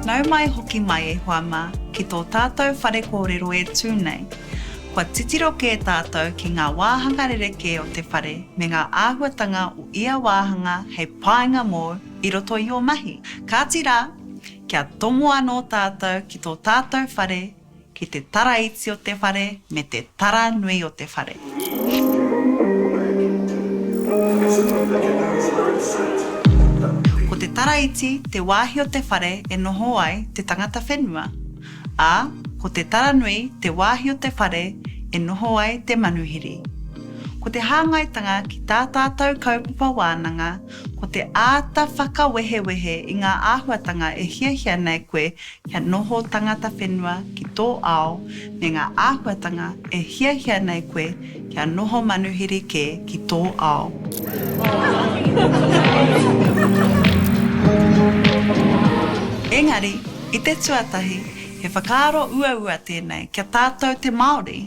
Nau mai hoki mai e hoa mā ki tō tātou whare kōrero e tū nei. Kua titiro kē tātou ki ngā wāhanga rerekē o te whare me ngā āhuatanga o ia wāhanga hei painga mōu i roto i ō mahi. Kāti rā, kia tomo anō tātou ki tō tātou whare Ki te tara iti o te whare me te tara nui o te whare. Ko te tara iti te wāhi o te whare e noho ai te tangata whenua, ā, ko te tara nui te wāhi o te whare e noho ai te manuhiri. Ko te hāngaitanga ki tā tātou kaupapa wānanga ko te āta whakawehewehe i ngā āhuatanga e hiahia nei koe kia noho tangata whenua ki tō ao me ngā āhuatanga e hiahia nei koe kia noho manuhiri kē ki tō ao. Engari, i te tuatahi, he whakaaro uaua tēnei kia tātou te Māori.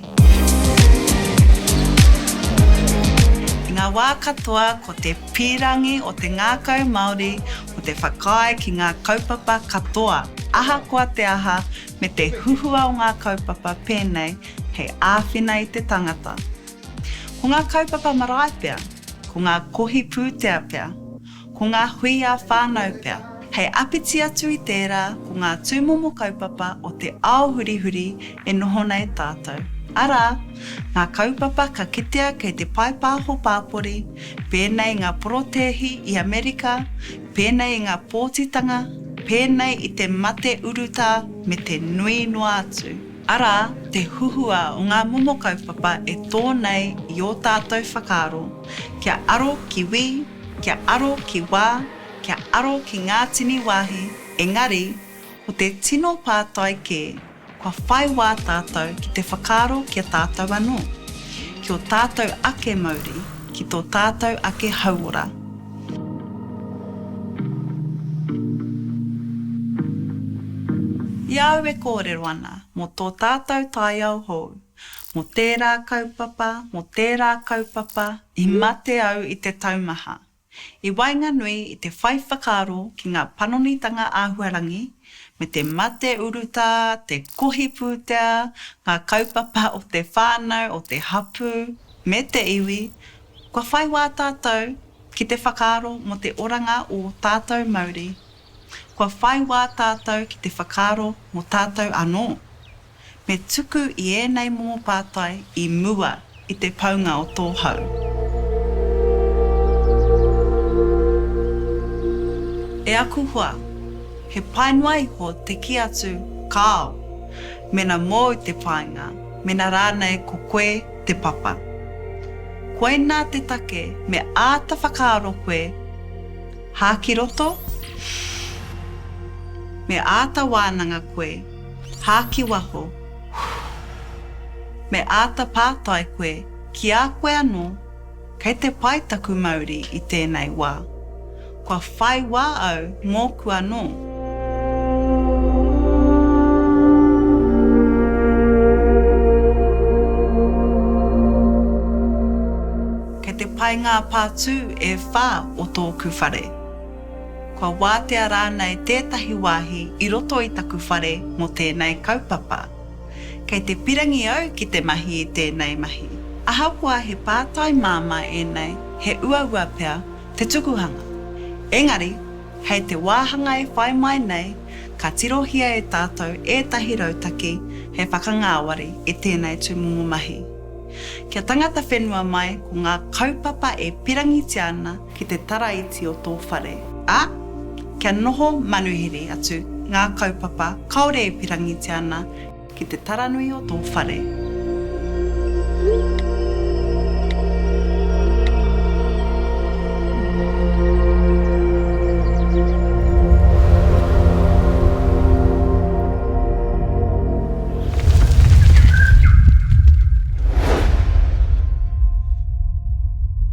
I ngā wā katoa ko te pīrangī o te ngākau Māori ko te whakaae ki ngā kaupapa katoa, ahakoa te aha, me te huhua o ngā kaupapa pēnei hei āwhina i te tangata. Ko ngā kaupapa marae pea, ko ngā kohi pūtea pea, ko ngā hui ā-whānau pea. Hei apiti atu i tērā, ko ngā tūmomo kaupapa o te ao hurihuri e noho nei tātou, arā, ngā kaupapa ka kitea kei te paepāho pāpori, pēnei i ngā porotēhi i Amerika, pēnei i ngā pōtitanga, pēnei i te mate urutā me te nui noa atu. Arā, te huhua o ngā momo kaupapa e tō nei i ō tātou whakaaro, kia aro ki wī, kia aro ki wā, kia aro ki ngā tini wāhi, engari, ko te tino pātai kē, Kua whai wā tātou ki te whakaaro ki a tātou anō, ki ō tātou ake mauri, ki tō tātou ake hauora. I a au e kōrero ana mō tō tātou taiao hou, mō tērā kaupapa, mō tērā kaupapa, i mate au i te taumaha. I waenganui i te whai whakaaro ki ngā panonitanga āhuarangi, me te mate urutā, te kohi pūtea, ngā kaupapa o te whānau, o te hapū, me te iwi, kua whai wā tātou ki te whakaaro mō te oranga ō tātou mauri. Kua whai wā tātou ki te whakaaro mō tātou anō. Me tuku i ēnei momo pātai i mua i te paunga o tō hau. E aku hoa, he pai noa iho te kī atu kāo, mēnā mōu te whāinga, mēnā rānei ko koe te papa. Koinā te take me āta whakaaro koe, hā ki roto? Me āta wānanga koe. Hā ki waho. Me āta pātai koe ki a koe anō, Kei te pai taku mauri i tēnei wā? Kua whai wā au mōku anō? Kei te pai ngā pātū e whā o tōku whare? Kua wātea rānei tētahi wāhi i roto i taku whare mō tēnei kaupapa? Kei te pirangi au ki te mahi i tēnei mahi. Ahakoa he pātai māmā ēnei, he uaua pea te tukuhanga. Engari, hei te wāhanga e whai mai nei, ka tirohia e tātou ētahi rautaki hei whakangāwari i tēnei tūmomo mahi. Kia tangata whenua mai ko ngā kaupapa e pirangitia ana ki te taraiti o tō whare. Ā, kia noho manuhiri atu ngā kaupapa kāore e pirangitia ana. Ki te taranui o tō whare.